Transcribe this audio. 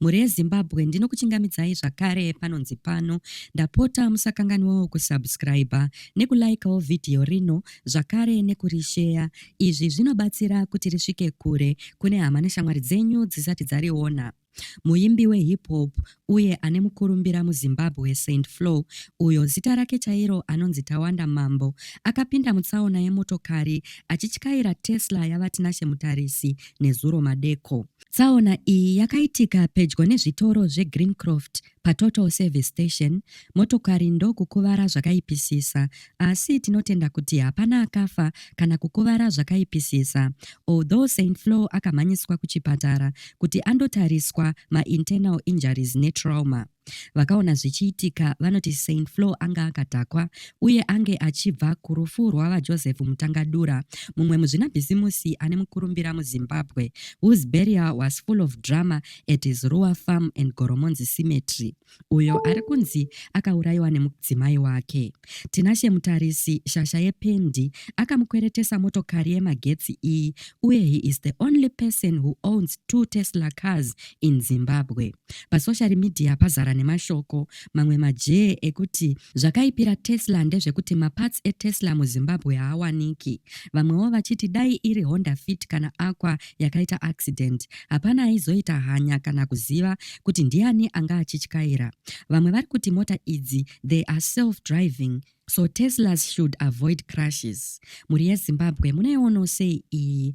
Mhuri yeZimbabwe ndinokuchingamidzai zvakare panonzi pano. Ndapota musakanganwawo kusubscriber nekulikewo vhidhiyo rino zvakare nekurisheya. Izvi zvinobatsira kuti risvike kure kune hama neshamwari dzenyu dzisati dzariona. Muimbi wehip hop uye ane mukurumbira muZimbabwe Saint Flo, uyo zita rake chairo anonzi Tawanda Mambo, akapinda mutsaona yemotokari achityaira Tesla yaVaTinashe Mutarisi nezuro madeko. Tsaona iyi yakaitika pedyo nezvitoro zveGreencroft paTotal Service Station motokari ndokukuvara zvakaipisisa asi tinotenda kuti hapana akafa kana kukuvara zvakaipisisa although Saint Flo akamhanyiswa kuchipatara kuti andotariswa mainternal injuries netrauma. Vakaona zvichiitika vanoti Saint Flo anga akadhakwa uye ange achibva kurufu rwavaJoseph Mutangadura, mumwe muzvinabhizimusi ane mukurumbira muZimbabwe, whose burial was full of drama at his Ruwa Farm and Goromonzi Cemetery, uyo ari kunzi akaurayiwa nemudzimai wake. Tinashe Mutarisi, shasha yependi, akamukweretesa motokari yemagetsi iyi uye he is the only person who owns two Tesla cars in Zimbabwe. Pasoshari midhiya pazara nemashoko mamwe majee ekuti zvakaipira Tesla ndezvekuti maparts eTesla muZimbabwe haawaniki. Vamwewo vachiti dai iri Honda Fit kana Aqua yakaita accident, hapana aizoita hanya kana kuziva kuti ndiani anga achityaira. Vamwe vari kuti mota idzi they are self driving so Teslas should avoid crashes. Mhuri yeZimbabwe munoionawo sei iyi?